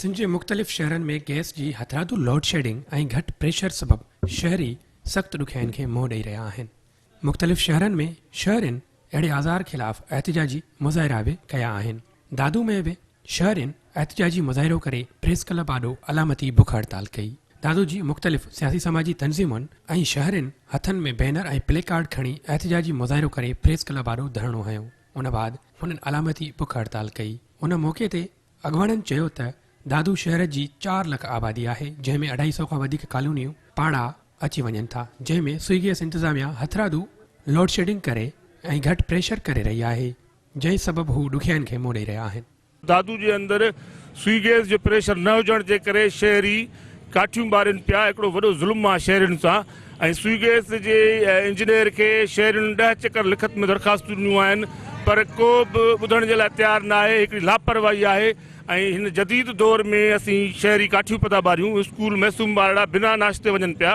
سنڌ جي مختلف شهرن ۾ گئس جي هٿرادو لوڊشيڊنگ ۽ گهٽ پريشر سبب شهري سخت ڏکيائين کي منهن ڏئي رهيا آهن مختلف شهرن ۾ شهرين اهڙي آزار خلاف احتجاجي مظاهرا به ڪيا آهن دادو ۾ به شهرين احتجاجي مظاهرو ڪري پريس ڪلب آڏو علامتي بک هڙتال ڪئي دادو جي مختلف سياسي سماجي تنظيمن ۽ شهرين هٿن ۾ بينر ۽ پلي ڪارڊ کڻي احتجاجي مظاهرو ڪري پريس ڪلب آڏو ڌرڻو هنيو ان بعد هنن علامتي بک هڙتال ڪئي ان موقعي تي اڳواڻن چيو ته دادو شهر جي چار لک آبادي آهي جنهن ۾ اڍائي سئو کان وڌيڪ ڪالونيون پاڙا اچي وڃن ٿا جنهن ۾ سوئيگيس انتظاميا هٿرادو لوڊشيڊنگ ڪري ۽ گهٽ پريشر ڪري رهي آهي جنهن سبب هو ڏکيائين کي منهن ڏئي رهيا آهن. دادو جي اندر سوئيگيس جو پريشر نه هجڻ جي ڪري شهري ڪاٺيون ٻارين پيا هڪڙو وڏو ظلم آهي شهرين سان. ۽ سوئي گيس جي انجنيئر کي شهرين ڏهه چڪر لکت ۾ درخواستون ڏنيون آهن پر ڪو به ٻڌڻ جي لاء تيار ناهي هڪڙي لاپرواهي آهي ۽ هن جديد دور ۾ اسين شهري ڪاٺيون پتا ٻاريون اسڪول معصوم ٻارڙا بنا ناشتي وڃن پيا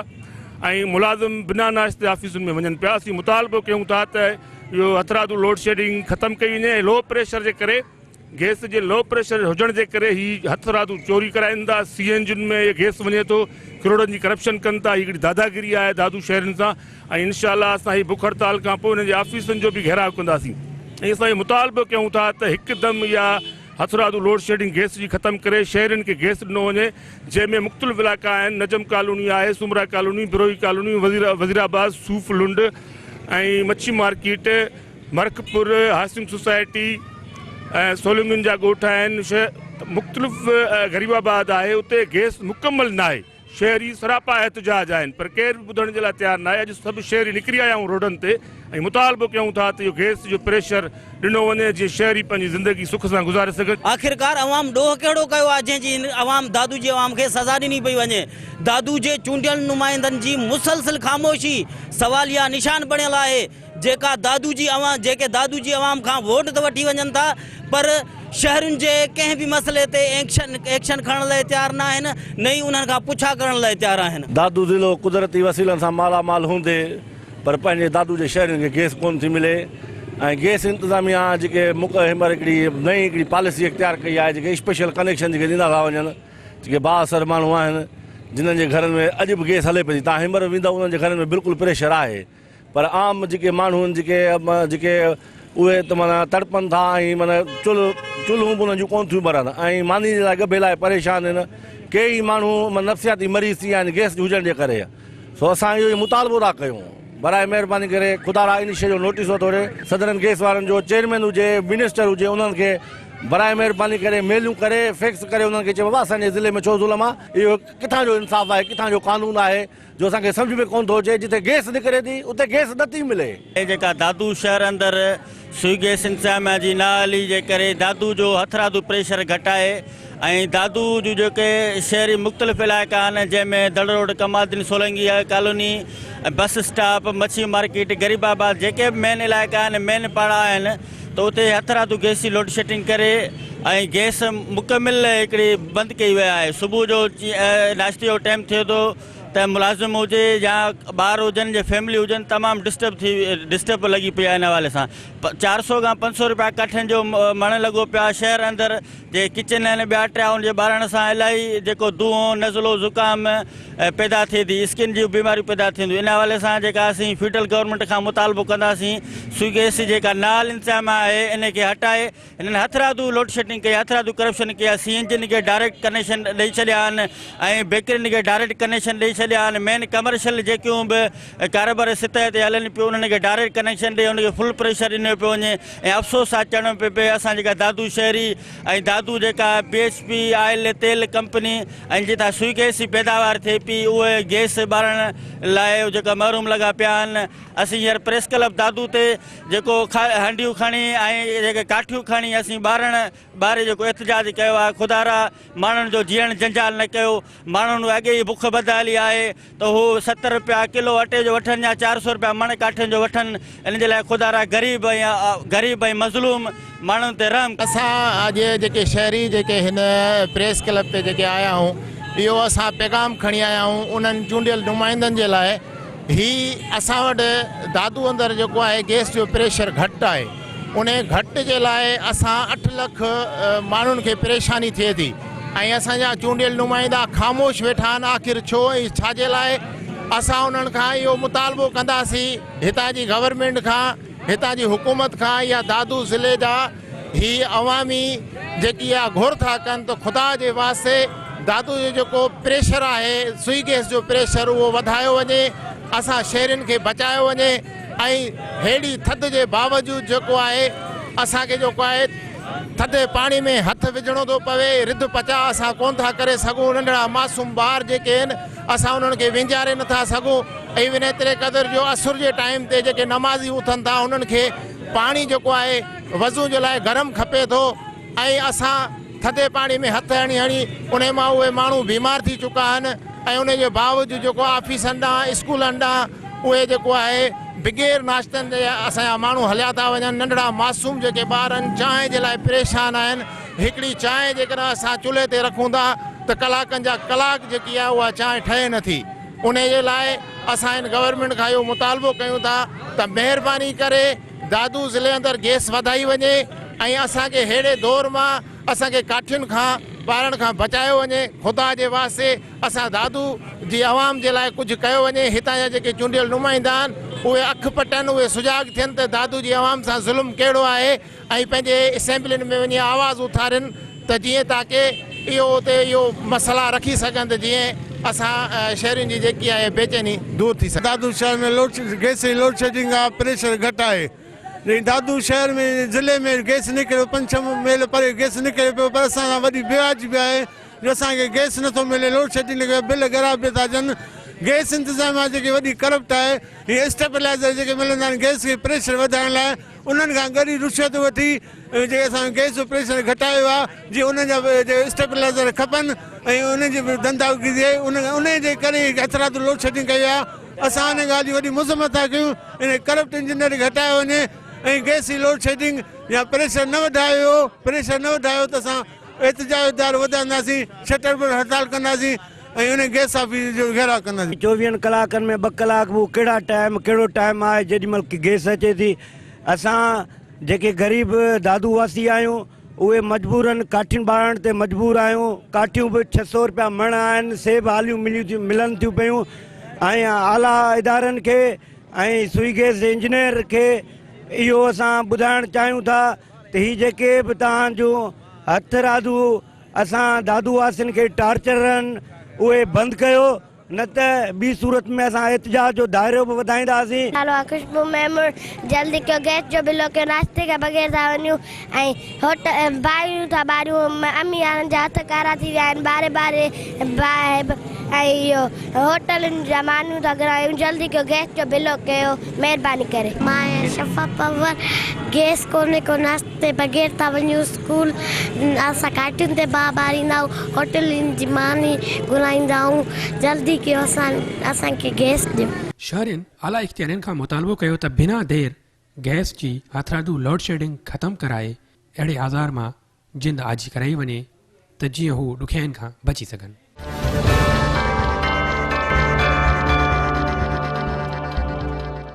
۽ ملازم بنا ناشتي آفيسن ۾ وڃن پيا اسين مطالبو ڪيون ٿا ته اهو هٿرادو لوڊشيڊنگ ختم ڪئي وڃي ۽ لو پريشر جي ڪري گئس جي لو پريشر هجڻ جي ڪري هي هٿ رادو چوري ڪرائين ٿا سي اين جين ۾ هي گئس وڃي ٿو ڪروڙن جي ڪرپشن ڪن ٿا هي هڪڙي داداگيري آهي دادو شهرين سان ۽ انشاء الله اسان هي بک هڙتال کان پوء هن جي آفيسن جو به گهيراء ڪنداسين ۽ اسان اهو مطالبو ڪيون ٿا ته هڪدم اها هٿ رادو لوڊشيڊنگ گئس جي ختم ڪري شهرين کي گئس ڏنو وڃي جنهن ۾ مختلف علائقا آهن نجم ڪالوني آهي سومرا ڪالوني بروهي ڪالوني وزيرآباد صوف لنڊ ۽ مڇي مارڪيٽ مرڪپور هاسنگ سوسائٽي ۽ سولنگن جا ڳوٺ آهن مختلف غريب آباد آهي اتي گيس مڪمل ناهي شهري سراپا احتجاج آهن پر ڪير به ٻڌڻ جي لاء تيار ناهي اڄ سڀ شهري نڪري آيا آهيون روڊن تي ۽ مطالبو ڪيون ٿا ته اهو گيس جو پريشر ڏنو وڃي جيئن شهري پنهنجي زندگي سک سان گذاري سگهن. آخرڪار عوام ڏوهه ڪهڙو ڪيو آهي جنهن جي هن عوام دادو جي عوام کي سزا ڏني پئي وڃي دادو جي چونڊيل نمائندن جي مسلسل خاموشي سواليا نشان بڻيل آهي. جيڪا دادو جي عوام جيڪي دادو جي عوام کان ووٽ ته وٺي وڃن ٿا پر شهرين جي ڪنهن به مسئلي تي ايڪشن ايڪشن کڻڻ لاء تيار نه آهن نه ئي انهن کان پڇا ڪرڻ لاء تيار آهن. دادو ضلعو قدرتي وسيلن سان مالا مال هوندي پر پنهنجي دادو جي شهرين کي گئس ڪونه ٿي ملي ۽ گئس انتظاميا جيڪي مڪ هيمر هڪڙي نئين هڪڙي پاليسي اختيار ڪئي آهي جيڪي اسپيشل ڪنيڪشن جيڪي ڏيندا ٿا وڃن جيڪي با اثر ماڻهو آهن جنهن جي گهرن ۾ اڄ به گئس هلي پئي ٿي تان هيمر ويندو انهن جي گهرن ۾ بلڪل پريشر آهي. پر عام جيڪي ماڻهو آهن جيڪي جيڪي اهي ته معنيٰ تڙپن ٿا ۽ معنيٰ چلهه چلهون به انهن جون ڪونه ٿيون ٻرن ۽ ماني جي لاء ڳڀي لاء پريشان آهن ڪي ئي ماڻهو نفسياتي مريض ٿي ويا آهن گئس هجڻ جي ڪري سو اسان اهو ئي مطالبو ٿا ڪيون برائي مهرباني ڪري خدا را ان شيء جو نوٽيس وٺو ڙي سڌرن گئس وارن جو چيئرمين هجي منسٽر هجي انهن کي برائي مهرباني ڪري ميلون ڪري فيڪس ڪري انهن کي چئي بابا اسان جي ضلعي ۾ ڇو ظلم آهي اهو ڪٿان جو انصاف آهي ڪٿان جو قانون آهي جو اسان کي سمجهه ۾ ڪونه ٿو اچي جتي گيس نڪري ٿي اتي گيس نه ٿي ملي. هي جيڪا دادو شهر اندر سوئي گيس انتظاميا جي نااهلي جي ڪري دادو جو هٿرادو پريشر گهٽائي ۽ دادو جون جيڪي شهري مختلف علائقا آهن جنهن ۾ دڙ road Kamal Uddin Solangi colony bus stop مڇي مارڪيٽ غريب آباد جيڪي به مين علائقا آهن مين پاڙا آهن ته اتي هٿ راتو گئس جي لوڊشيڊنگ ڪري ۽ گئس مڪمل هڪڙي بند ڪئي وئي آهي صبح جو ناشتي جو ٽائيم ٿئي ٿو ته ملازم هجي يا ٻار هجن يا فيملي هجن تمام ڊسٽرب ٿي ڊسٽرب لڳي پئي آهي ان حوالي سان چار سو کان پنج سو روپيا ڪاٺين جو مڻ لڳو پيو آهي شهر اندر جي ڪچن ۽ ٻيا ٽيائون جي ٻارڻ سان الائي جيڪو دونهون، نزلو، زڪام پيدا ٿئي ٿي، اسڪن جون بيماريون پيدا ٿين ٿيون ان حوالي سان جيڪا اسين فيڊرل گورنمينٽ کان مطالبو ڪنداسين سوگيس جي جيڪا نال انتظام آهي ان کي هٽائي هنن هٿرادو لوڊشيڊنگ ڪئي هٿرادو ڪرپشن ڪئي سي اين جين کي ڊائريڪٽ ڪنيڪشن ڏئي ڇڏيا آهن ۽ بيڪرين کي ڊائريڪٽ ڪنيڪشن ڏئي ڇڏيا آهن مين ڪمرشل جيڪيون به ڪاروبار سطح تي هلن پيو انهن کي ڊائريڪٽ ڪنيڪشن ڏئي ان کي فل پريشر ڏنو پيو وڃي ۽ افسوس آ چوڻو پيو پئي اسان جيڪا دادو شهري ۽ دادو جيڪا بي ايس پي آئل تيل ڪمپني ۽ جتان سوئي گيس جي پيداوار ٿئي پي اهي گيس ٻارڻ لاء جيڪا محروم لڳا پيا آهن اسين هينئر پريس ڪلب دادو تي جيڪو هنڊيون کڻي ۽ جيڪي ڪاٺيون کڻي اسين ٻارڻ ٻاري جيڪو احتجاج ڪيو آهي خدارا ماڻهن جو جيئڻ جنجال نه ڪيو ماڻهن اڳي ئي بک ٻڌائلي آهي ته هو ستر رپيا ڪلو اٽي جو وٺن يا چار سؤ رپيا مڻ ڪاٺين جو وٺن ان جي لاء خدا را غريب ۽ غريب ۽ مظلوم ماڻهن تي رحم ڪر. اسان اڄ جيڪي شهري جيڪي هن پريس ڪلب تي جيڪي آيا آهيون اهو اسان پيغام کڻي آيا آهيون انهن چونڊيل نمائندن جي لاء هي اسان وٽ دادو اندر جيڪو آهي گيس جو پريشر گهٽ آهي. انهي گهٽ جي لاء اسان اٺ لک ماڻهن کي پريشاني ٿئي ٿي ۽ اسان جا چونڊيل نمائندا خاموش ويٺا آهن آخر ڇو ۽ ڇا جي لاء اسان انهن کان اهو مطالبو ڪنداسين هتان جي گورنمينٽ کان هتان جي حڪومت کان يا دادو ضلعي جا هي عوامي جيڪي اها گهر ٿا ڪن ته خدا جي واسطي دادو جو جيڪو پريشر آهي سوئي گئس جو پريشر اهو وڌايو وڃي اسان شهرين کي بچايو وڃي ۽ ههڙي ٿڌ جي باوجود جيڪو آهي اسان کي جيڪو آهي ٿڌي پاڻي ۾ هٿ وجهڻو ٿو پوي رڌ پچاء اسان ڪونه ٿا ڪري سگهون ننڍڙا معصوم ٻار جيڪي آهن اسان انهن کي وينجهاري نٿا سگهون ايون ايتري قدر جو عصر جي ٽائيم تي جيڪي نمازي اٿن ٿا انهن کي پاڻي جيڪو آهي وضو جي لاء گرم کپي ٿو ۽ اسان ٿڌي پاڻي ۾ هٿ هڻي هڻي انهي مان اهي ماڻهو بيمار ٿي چڪا آهن ۽ انهي جي باوجود جيڪو آفيسن ڏانهن اسڪولن ڏانهن اهي جيڪو آهي بغير ناشتن جي اسان جا ماڻهو هليا ٿا وڃن، ننڍڙا معصوم جيڪي ٻار آهن چانهه جي لاء پريشان آهن، هڪڙي چانهه جيڪڏهن اسان چلهي تي رکون ٿا ته ڪلاڪن جا ڪلاڪ جيڪي آهي اها چانهه ٺهي نه ٿي، انهي جي لاء اسان هن گورنمينٽ کان اهو مطالبو ڪيون ٿا ته مهرباني ڪري دادو ضلعي اندر گيس وڌائي وڃي ۽ اسان کي ههڙي دور مان اسان کي ڪاٺين کان ٻارڻ کان بچايو وڃي، خدا جي واسطي اسان دادو جي عوام جي لاء ڪجهه ڪيو وڃي هتان جا جيڪي چونڊيل نمائندا آهن اهي اک پٽن اهي سجاڳ ٿين ته دادو جي عوام سان ظلم ڪهڙو آهي ۽ پنهنجي اسيمبلين ۾ وڃي آواز اٿارين ته جيئن تاڪي اهو اتي اهو مسئلا رکي سگهن ته جيئن اسان شهرين جي جيڪي آهي بيچيني دور ٿي سگهي. دادو شهر ۾ گئس جي لوڊشيڊنگ آهي پريشر گهٽ آهي جي دادو شهر ۾ ضلعي ۾ گئس نڪري پنج ڇهه ميل پري گئس نڪري پيو پر اسان سان وڏي بيواجبي آهي. جو اسان کي گئس نٿو ملي لوڊشيڊنگ جو بل ڳرا به ٿا اچن گئس انتظاميا جيڪي وڏي ڪرپٽ آهي هي اسٽيبلائزر جيڪي ملندا آهن گئس کي پريشر وڌائڻ لاء انهن کان ڳري رشوت وٺي جي اسان گئس جو پريشر گهٽايو آهي جي انهن جا اسٽيبلائزر کپن ۽ انهن جي به دنداوگي ٿئي انهن جي ڪري اثرات لوڊشيڊنگ ڪئي آهي اسان ان ڳالهه جي وڏي مذمت ٿا ڪيون ان ڪرپٽ انجنيئر کي هٽايو وڃي ۽ گئس جي لوڊشيڊنگ يا پريشر نه وڌايو پريشر نه وڌايو ته اسان احتجاج دائرو وڌائينداسين، شٽر به هڙتال ڪنداسين ۽ ان گئس آفيس جو گهيراء ڪنداسين. چوويهن ڪلاڪن ۾ ٻه ڪلاڪ به اهو ڪهڙا ٽائيم ڪهڙو ٽائيم آهي جيڏي مهل ڪي گئس اچي ٿي اسان جيڪي غريب دادو واسي آهيون اهي مجبورن ڪاٺين ٻارڻ تي مجبور آهيون ڪاٺيون به ڇهه سئو رپيا مڻ آهن سي به آليون مليون ٿيون ملن ٿيون پيون ۽ اعليٰ ادارن کي ۽ سوئي گئس جي انجنيئر کي اهو اسان ٻڌائڻ چاهيون ٿا ته هي جيڪي به توهان جون هٿ رادو اسان دادو واسين کي ٽارچر رهن اهي بند ڪيو نه ته ٻي صورت ۾ اسان احتجاج جو دائرو به وڌائينداسين. نالو آ خوشبو ميمڻ جلدي ڪيو گئس جو بلو ڪيو ناشتي کان بغير ٿا وڃون ۽ هوٽ باهريون ٿا ٻاريون امي يارن جا هٿ ڪارا ٿي ويا آهن ٻاري ٻاري باهه ۽ اهو هوٽلن جا مانيون ٿا گهرائيون جلدي ڪيو گئس جو بلو ڪيو. مھرباني ڪري. مان آھيان شفا پنور گيس ڪوني ڪو ناشتي بغير ٿا وڃون اسڪول اسان گھاٽين تي باھ ٻاريندا آھون ھوٽلين جي ماني گھرائيندا آھون جلدي ڪيو اسان اسان کي گيس ڏيو. شھرين اعليٰ اختيارين کان مطالبو ڪيو ته بنا دير گئس جي ھٿرادو لوڊشيڊنگ ختم ڪرائي اھڙي آزار مان جند آجي ڪرائي وڃي ته جيئن هو ڏکيائين کان بچي سگهن.